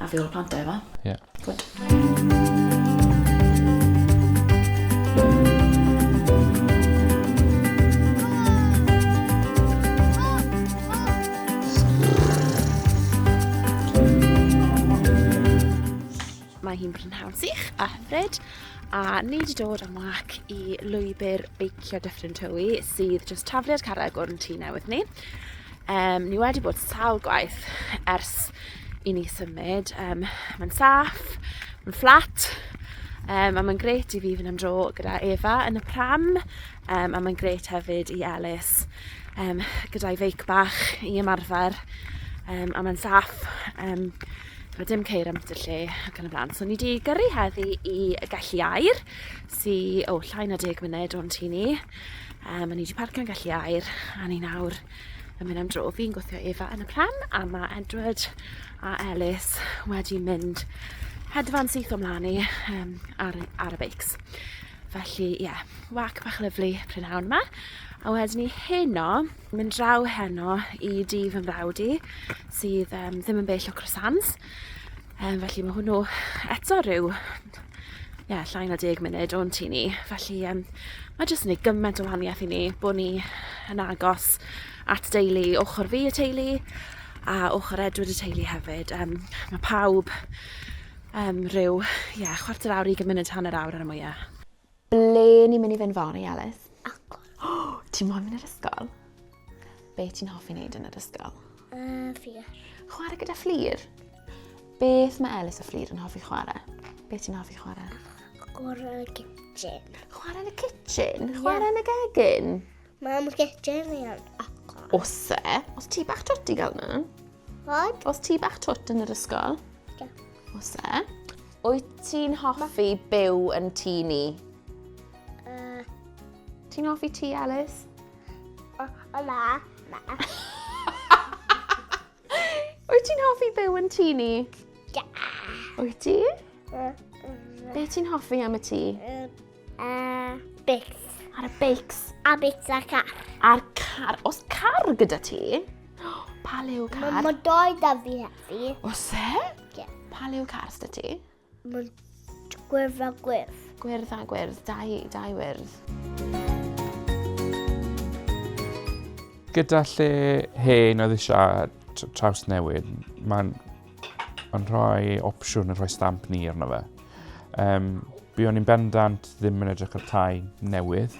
A fi o'r plant da efo. Ie. Yeah. Good. Mae hi'n brynhawn sych a hyfryd a ni wedi dod am wac i lwybr beicio Dyffryn Tywi sydd jyst tafliad carreg o'n tŷ newydd ni. Um, ni wedi bod sawl gwaith ers i ni symud. Um, mae'n saff, mae'n fflat, um, a mae'n gret i fi fynd am dro gyda Eva yn y pram, um, a mae'n gret hefyd i Elis um, gyda'i feic bach i ymarfer, um, a mae'n saff. Um, Mae dim ceir am y lle ac yn y blaen. So ni wedi gyrru heddi i Gelli Air, sy'n o, llai na deg munud o'n tu ni. Yrm o'n i 'di parcio'n gallu air a ni nawr yn mynd am dro. Fi'n gwthio Eva yn y pram a ma' Edward a Elis wedi mynd hedfan syth o mlan i yrm ar y ar y beics. Felly ie, wâc bach lyfli prynhawn 'ma a wedyn ni heno, mynd draw heno i dŷ fy mrawd i sydd yrm ddim yn bell o Croissants. Yym, felly mae hwnnw eto rhyw ie, llai na deg munud o'n tu ni. Felly um, mae jyst yn ei gymaint o wahaniaeth i ni bod ni yn agos at deulu ochr fi y teulu a ochr Edward y teulu hefyd. Um, mae pawb um, rhyw ie, chwarter awr, i gymuned hanner awr ar y mwyaf. Ble ni'n mynd i fynd fory, Elis? Agor. Oh, ti'n moyn mynd i'r ysgol? Be ti'n hoffi wneud yn yr ysgol? Uh, fflir. Chwarae gyda fflir? Beth mae Elis a fflir yn hoffi chwarae? Be ti'n hoffi chwarae? Chwarae yn y kitchen. Chwarae yn y kitchen? Chwarae yn y gegin? Mae am gyda'r ni am acor. Os e, os ti bach twt i gael nhw? Fod? Os ti bach twt yn yr ysgol? Ie. Os e? Wyt ti'n hoffi byw yn tŷ ni? Uh, ti'n hoffi ti, Alice? O, o na, na. Wyt ti'n hoffi byw yn tŷ ni? Ie. Wyt ti? Be ti'n hoffi am y tŷ? A beics. Ar y beics. A beics a'r car. A'r car. Os car gyda ti, pa lew car? Mae ma doi da fi hefyd. Os e? Ie. Pa lew car syda ti? Mae gwyrdd a gwyrdd. Gwyrdd a gwyrdd. Dau, dau wyrdd. Gyda lle hen oedd eisiau traws newid, mae'n Mae'n rhoi opsiwn yn rhoi stamp ni arno fe. Um, Byddwn ni'n bendant ddim yn edrych ar tai newydd,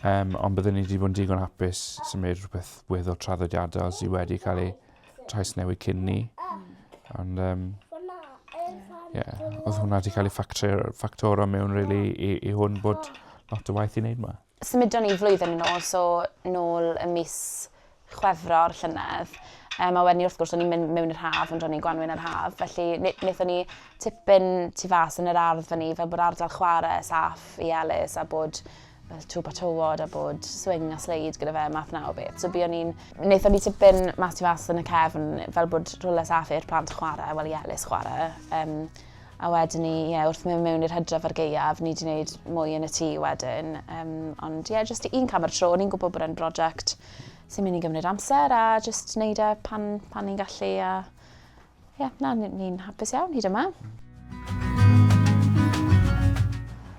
um, ond byddwn ni wedi bod yn digon hapus symud rhywbeth wedd o traddodiadol sydd wedi cael ei trais newid cyn ni. Ond, um, yeah, oedd hwnna wedi cael ei ffactor o mewn really, i, i hwn bod lot o waith i wneud yma. Symudon ni flwyddyn yn ôl, so nôl ym mis Chwefror llynedd. Um, a wedyn ni, wrth gwrs, o'n ni'n mynd mewn i'r haf, ond o'n ni'n gwanwyn yr haf. Felly, wnaethon ni tipyn tu fas yn yr ardd fan ni, fel bod ardal chwarae saff i Elis a bod fel twb a tywod a bod swing a sleid gyda fe, math na o beth. So buon ni'n... Wnaethon ni tipyn mas tu fas yn y cefn, fel bod rhywle saff i'r plant chwarae, wel i Elis chwarae. Um, A wedyn ni, ie, wrth mynd mewn i'r hydref ar gaeaf, ni wedi gwneud mwy yn y tŷ wedyn. Um, ond ie, jyst un cam ar y tro, ni'n gwybod bod e'n brosiect sy'n mynd i gymryd amser a jyst wneud e pan, pan ni'n gallu a ie, yeah, na, ni'n ni hapus iawn hyd yma.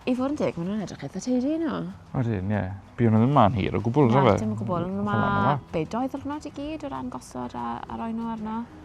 I fod yn deg, maen nhw'n edrych eitha teidi nhw. Wedyn, ie. Yeah. Byw nhw ddim ma'n hir o gwbl, rhaid fe? Na, dim o gwbl. Mae bedoedd yr hwnna i gyd o ran gosod a, a roi nhw arno.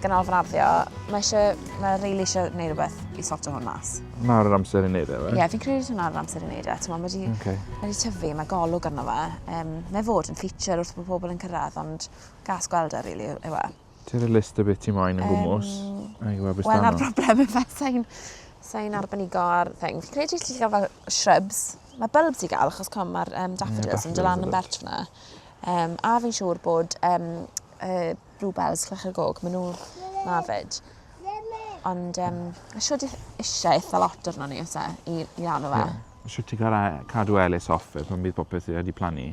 ganolfan arddio, mae eisiau, mae rili really eisiau gwneud rhywbeth i sorto hwn mas. Nawr yr amser i wneud e, fe? Ie, yeah, fi'n credu hwnna nawr yr amser i wneud e. Mae wedi okay. ma tyfu, mae golwg arno fe. Um, mae fod yn feature wrth bod pobl yn cyrraedd, ond gas gweld e, rili, really, yw e. Ti'n y list y bit i moyn yn gwmwys? Um, Wel, na'r broblem yn fe, sain, sain arbenigo ar thing. Fi'n credu ti'n cael fel shrubs. Mae bulbs i gael, achos com mae'r um, daffodils yn dylan yn bert fyna. Um, a fi'n siŵr bod um, uh, bluebells, clychau gog, maen nhw na fyd. Ond um, siwr eisiau eitha lot arno ni os e, i, i lan o fe. Yeah. Siwr ti gael cadw Elis off fe pan bydd popeth i wedi plannu.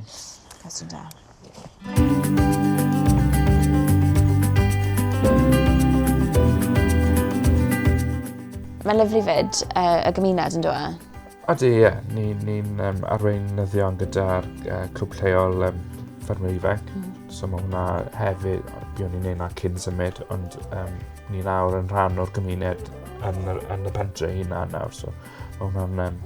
Cos ti'n da. Mae'n lyflu fyd uh, y gymuned yn dweud. Ydy, ie. Yeah. Ni'n ni, ni um, arweinyddion gyda'r uh, clwb lleol um, ffermwyr ifanc. Mm. So mae hwnna hefyd, byddwn ni'n neud na cyn symud, ond um, ni nawr yn rhan o'r gymuned yn, yr, yn y pentre hynna nawr. So mae hwnna'n um,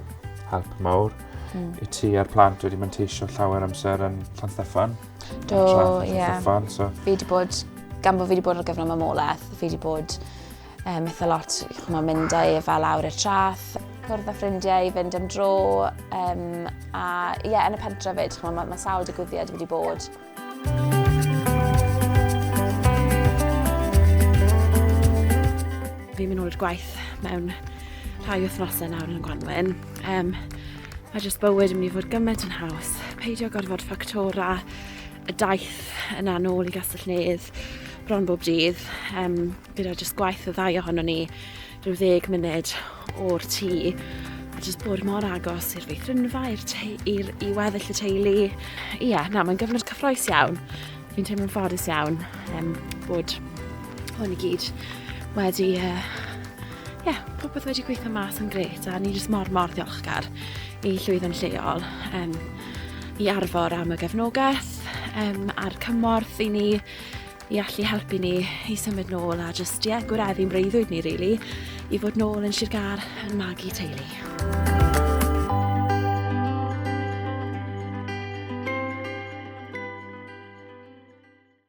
help mawr. Mm. I ti a'r plant wedi manteisio llawer amser yn Llan Steffan. Do, ie. Yeah. So. Fi wedi bod, gan bod fi wedi bod ar gyfnod mamolaeth, fi wedi bod Um, eitha lot, chymod, mynd â Eva lawr i'r trath, cwrdd â ffrindiau i fynd am dro, um, a ie, yeah, yn y pentre fyd, chymod, mae ma sawl digwyddiad wedi bod. Fi'n mynd ôl i'r gwaith mewn rhai wythnosau nawr yn y Gwanwyn. Um, mae jyst bywyd yn mynd i fod gymaint yn haws. Peidio gorfod ffactora y daith yna nôl i Gastell Nedd bron bob dydd. Um, gyda jyst gwaith y ddau ohono ni rhyw ddeg munud o'r tŷ a jyst bod mor agos i'r feithrinfa, i'r i weddill y teulu. Ie, yeah, na, mae'n gyfnod cyffroes iawn. Fi'n teimlo'n ffodus iawn um, bod hwn i gyd wedi... Ie, uh, yeah, popeth wedi gweithio mas yn gret a ni jyst mor mor ddiolchgar i llwyddo'n lleol um, i arfor am y gefnogaeth um, a'r cymorth i ni i allu helpu ni i symud nôl a jyst, ie, yeah, gwireddu'n breuddwyd ni, really, i fod nôl yn Sir Gar yn magu teulu.